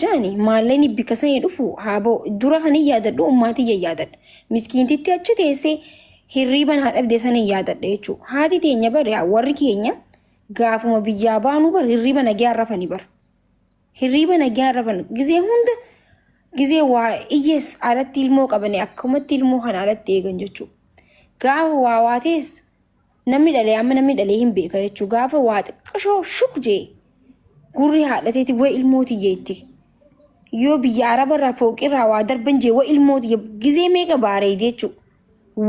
jaani maalleni bikasani dhufu haaboo dura kan hin yaadadhu ummaatiyya yaadadha miskiintitti achi teessee hirriiban haa dhabde san hin yaadadha jechuu haati teenya bar yaa warri keenya gaafuma biyyaa baanuu bar hirriiba nagaa rafani bar hirriiba nagaa rafan gizee hunda gizee waa iyyees alatti ilmoo qabane akkumatti ilmoo kana alatti eegan jechuu gaafa waa waatees Namni dhalee amma namni dhalee hin beeka jechuu gaafa waa xiqqashoo shuk jee gurri haadhateeti wa ilmooti jeetti. Yoo biyya arabarraa fooqirraa waa darban jee wa ilmooti jee gizee meeqa baareedi jechuu.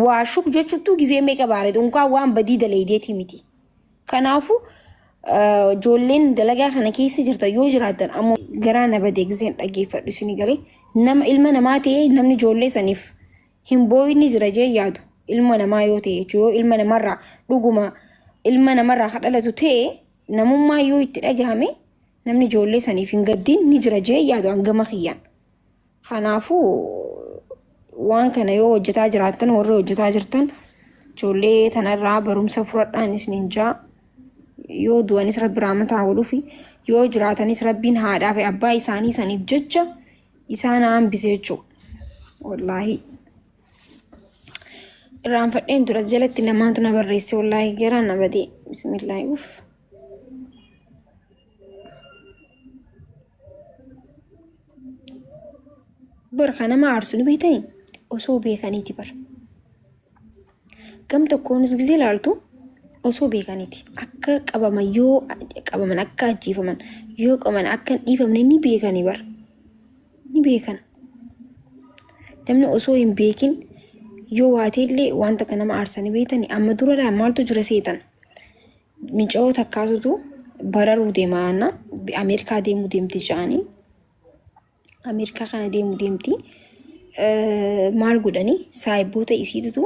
Waa shuk jechuuttuu gizee meeqa baareedi unkaan waan badii daleedeeti miti. Kanaafu ijoolleen dalagaa kana keessa jirta yoo jiraatan ammoo garaa na badee gizeen dhageeffadhu isin galee nama ilma namaa ta'ee namni ijoollee saniif hin boo'in ni jira jee yaadu ilma namaa yoo ta'e jechuudha yoo ilma namarraa dhuguma ilma namarraa ka dhalatu ta'e namummaa yoo itti dhagahame namni ijoollee saniif hin gaddiin ni jira jee yaadu hangama kiyyaan kanaafuu waan kana yoo hojjetaa jiraattan warri hojjetaa jirtan ijoollee tanarraa barumsa fudhadhaan isiniin jaa yoo du'anis rabbi raamataa godhuufi yoo jiraatanis rabbiin haadhaa fi abbaa isaanii saniif jecha isaa na hambise jechuudha. Wallaahi. Irraanfadheen tura jalatti namaatu na barreesse wallaahi garaa na badee. Bismillaahi uff. Bar kan nama aarsu ni beektanii? Osoo beekaniiti bar. Gam tokkoonis ጊዜ ilaaltu osoo beekaniiti akka qabaman yoo qabaman akka ajjeefaman yoo qabaman akka hin dhiifamne ni beekani bar ni beekan namni osoo hin beekin yoo waateellee wanta akka nama aarsanii beekani amma dura laa maaltu jira seetan minca'oo takkaatutu bararuu deemaana Ameerikaa deemuu deemti ja'anii Ameerikaa kana deemu deemti. Maal godhani saayiboota isiitutu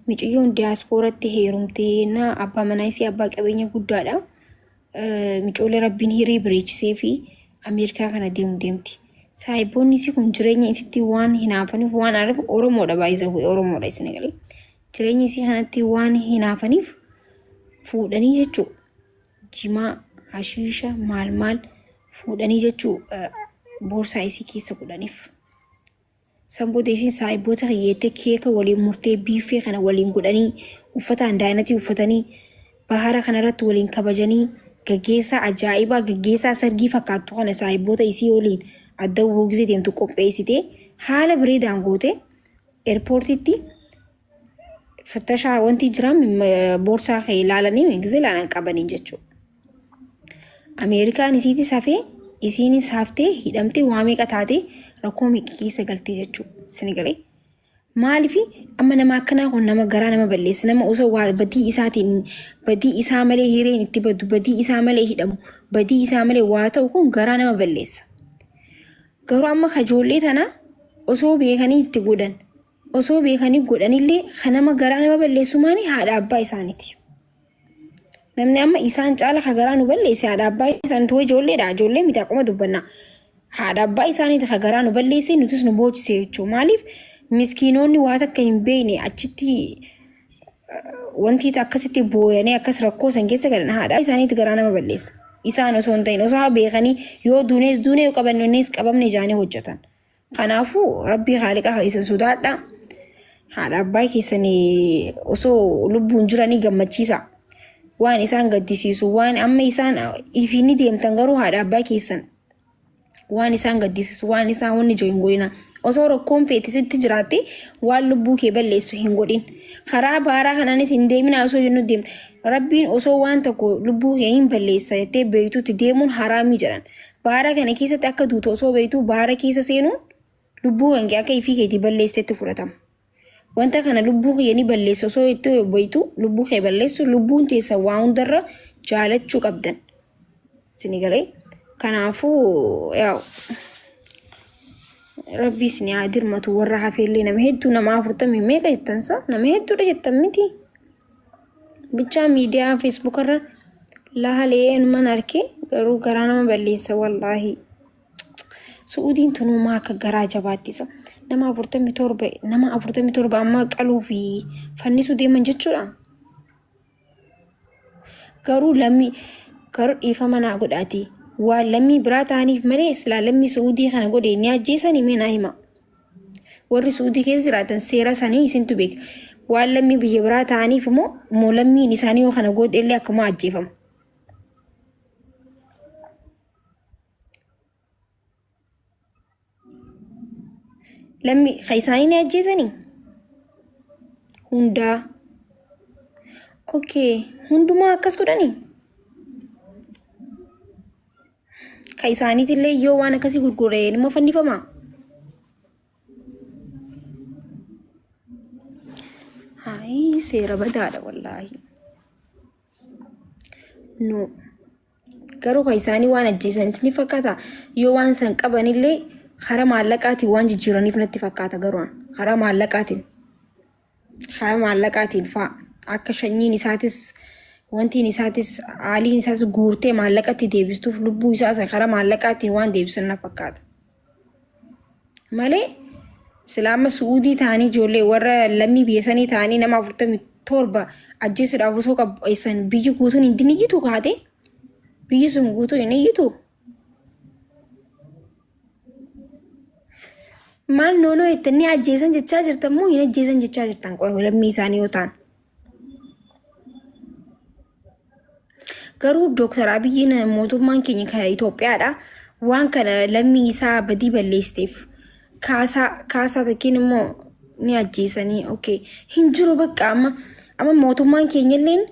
miciyyoon diyaaspooratti heerumtee na abbaa manaa isii abbaa qabeenya guddaadha. Micoolee rabbiin hiree bareechisee fi Ameerikaa kana deemu deemti. Saayiboonni isii kun jireenya isitti waan hinaafaniif waan aariif Oromoodha baay'isa bu'e Oromoodha isin galee. Jireenya isii kanatti waan hinaafaniif fuudhanii jechuudha. jimaa, hashiisha maal maal fuudhanii jechuu boorsaa isii keessa godhaniif. San booda isin saahiboota kiyyeettee keeka waliin murtee biiffee kana waliin godhanii uffata andaayinatii uffatanii bahara kanarratti waliin kabajanii gaggeessaa ajaa'ibaa gaggeessaa sargii fakkaattu kana saahiboota isii waliin adda wuruu gisee deemtu qopheessitee haala bareedaan gootee eerpoortiitti Fattashaa wanti jiran boorsaa kee ilaalanii gizee ilaalan qabanii jechuudha. Ameerikaan isiitis hafee isiinis haftee hidhamtee waa meeqa taatee rakkoo meeqa keessa galtee jechuudha. Sini galee. Maaliif amma nama akkanaa kun nama garaa nama balleessa nama osoo waa badii isaatiin badii isaa malee hireen itti badu badii isaa malee hidhamu badii isaa malee waa ta'u kun garaa nama balleessa. Garuu amma kajoollee tana osoo beekanii itti godhan Osoo beekanii godhanillee kan nama garaa nama balleessu maani haadha abbaa isaaniti. Namni amma isaan caala ka garaa nu balleesse haadha abbaa isaaniti way ijoolleedha ijoollee miti akkuma dubbannaa. Haadha abbaa isaaniti ka garaa nu balleesse nutis nu boochisee jechuudha. Maaliif miskiinoonni waa takka hin beekne achitti wanti akkasitti booyanii akkas rakkoo san keessa galan haadha isaaniiti garaa nama balleessa. Isaan osoo hin ta'in osoo beekanii yoo duunees duunee yoo qabannees qabamne jaanii hojjetan. Kanaafuu rabbii haaliqa keessan sodaadha. Haadha abbaa keessan osoo lubbuun jiranii gammachiisa. Waan isaan gaddisiisu waan amma isaan ifiin ni deemtan garuu haadha abbaa keessan waan isaan gaddisiisu waan isaan wanni jiru hin godhina. Osoo rakkoon feete sitti jiraatte waan lubbuu kee balleessu hin godhin. Karaa baaraa kanaanis hin deemina osoo jennu deemna. Rabbiin osoo waan tokko lubbuu kee hin balleessa jettee beektutti deemuun haraamii jedhan. Baara kana keessatti akka duutu osoo beektuu baara keessa seenuun lubbuu kee akka ifii keetii balleessetti fudhatama. Wanta kana lubbuu kiyya ni balleessa osoo itti beektuu lubbuu kee balleessu lubbuun teessan waa hundarra jaalachuu qabdan. Sini galee kanaafuu yaa'u rabbii sini haa dirmatu warra hafeellee nama hedduu nama afurtamii meeqa jettansa nama hedduudha jettan miti. Bichaa miidiyaa Facebook irra laalee anuman arke garuu garaa nama balleessa wallaahi. Su'uudiin tunumaa akka garaa jabaattisa. Nama afurtamii torba nama afurtamii torba ammaa qaluu fi fannisuu deeman jechuudha. Garuu lammii garuu dhiifama naa godhaati. Waan lammii biraa ta'aniif malee silaa lammii Su'uudii kana godhe ni ajjeesani mee naa hima. Warri Su'udii keessa jiraatan seera sanii isintu beeka. Waan lammii biyya biraa ta'aniif immoo immoo lammiin isaanii yoo kana godhe illee akkuma ajjeefamu. Lammii kan isaanii ni ajjeesanii? Hundaa. Okay. Hundumaa akkas godhanii? Ka isaaniitillee yoo waan akkasii gurgure nima fannifama. Hayi seera badaadha wallaahi. No. Garuu ka isaanii waan ajjeesanis ni fakkaata. Yoo waan san qabanillee karaa maallaqaatiin waan jijjiiraniif natti fakkaata garuu an. karaa maallaqaatiin. haa maallaqaatiin fa'a akka shanyiin isaatis wantiin isaatis haaliin isaas guurtee maallaqatti deebistuuf lubbuu isaas karaa maallaqaatiin waan deebisan na fakkaata. Malee silaama su'uudii ta'anii ijoollee warra lammii biyya sanii ta'anii nama afurtamii torba ajjeesuudhaaf osoo qabbeessan biyyi guutuun hin iyyitu kaate biyyi sun guutuu hin iyyitu Maal noonoo itti inni ajjeesan jechaa jirtan moo hin ajjeesan jechaa jirtan qoy lammii isaanii yoo ta'an. Garuu Dooktar Abiyyiin mootummaan keenya kan Itoophiyaadha. Waan kana lammii isaa badii balleesseef kaasaa kaasaa tokkiin immoo ni ajjeesanii. Okay. Hin jiru bakka amma amma mootummaan keenya illeen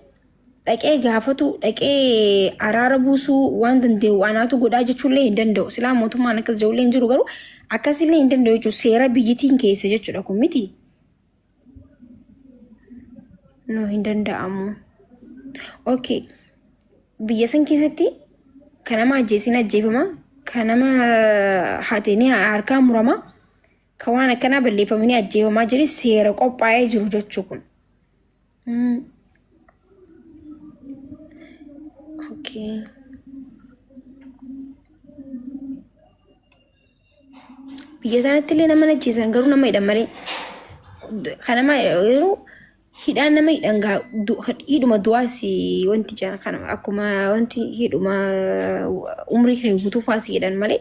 dhaqee gaafatu dhaqee araara buusuu waan danda'u anaatu godhaa jechuullee hin danda'u silaa mootummaan akkas jedhullee hin jiru garuu akkasillee hin danda'u jechuudha seera biyyitiin keessa jechuudha kun miti. No hin danda'amu. Okay. Biyya san keessatti kan nama ajjeesiin ajjeefama kan nama hateenii harkaa murama kan waan akkanaa balleeffamanii ajjeefamaa jiru seera qophaa'ee jiru jechuu kun. Mm. Okay. Biyya sanatti illee nama nachiisan garuu nama hidhan malee. Kan nama yeroo hidhaan nama hidhan gaa du- hidhuma du'aas wanti jira kan akkuma wanti hidhuma umrii kee guutuu faasii hidhan malee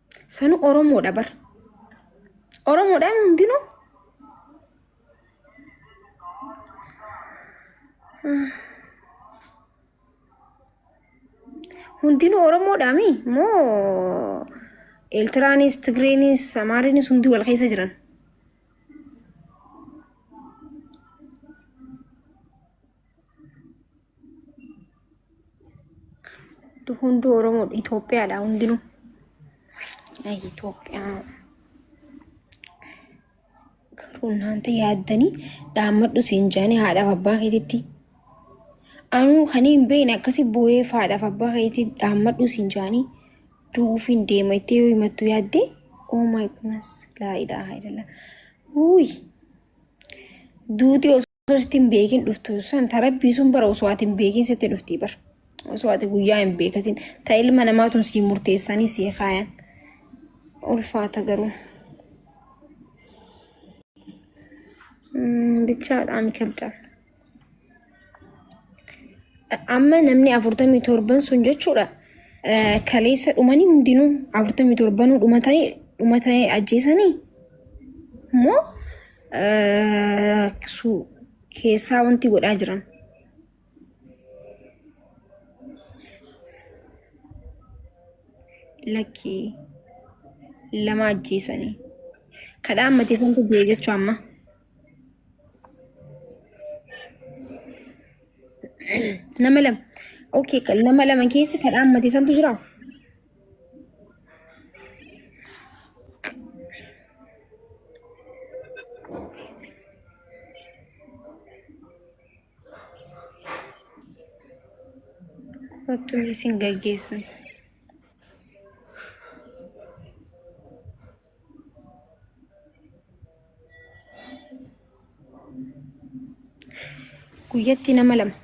Sanu Oromoodha bar. Oromoodha hundinuu. Hundinuu Oromoodhaa mi? Moo Eeltiraanis, Tigreenis, Amaarinis hundi wal keessa jiran. Hunduu Oromoodha. Itoophiyaadha hundinuu. Ay, Itoophiyaa. Garuu naanta yaaddanii dhaammadhu siin jaanii haadhaaf abbaa keetitti. Anuu kan hin beekne akkasii booyee haadhaaf abbaa keetii dhaammadhu siin jaanii duufiin deema itti yoo himattu yaaddee. Oh my goodness. Laa ilaaha illallah. Uuyi. Duuti osoo. Osoo hin beekin dhuftu san ta rabbii sun bara osoo ati hin beekin sitti dhuftii bara. Osoo ati guyyaa hin beekatin ta ilma namaatun sii murteessanii sii kaayan. Ulfaata garuu. Bichaadhaan kabdan. Amma namni afurtamii torban sun jechuudha. Kaleessa dhumanii hundinuu afurtamii torbanuu dhumatanii dhumatanii ajjeesanii moo eh, su- keessaa wanti godhaa jiran. Lakkii lama ajjeesanii. Kadhaa ammatee santu du'e jechuu amma. Nama lama. Okay, kan- nama lama keessa kadhaa ammatee santu jiraa? Kottuun isin gaggeessan. guyyatti nama lama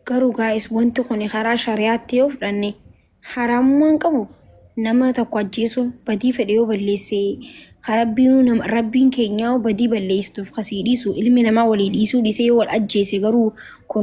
garuu gaa'is wanti kun karaa shari'aatti yoo fudhanne haraamummaan qabu nama tokko ajjeesuun badii fedhe yoo balleessee karabbiinuu nama rabbiin keenyaa yoo badii balleessuuf kasii dhiisu ilmi namaa walii dhiisuu dhiisee yoo wal ajjeese garuu kun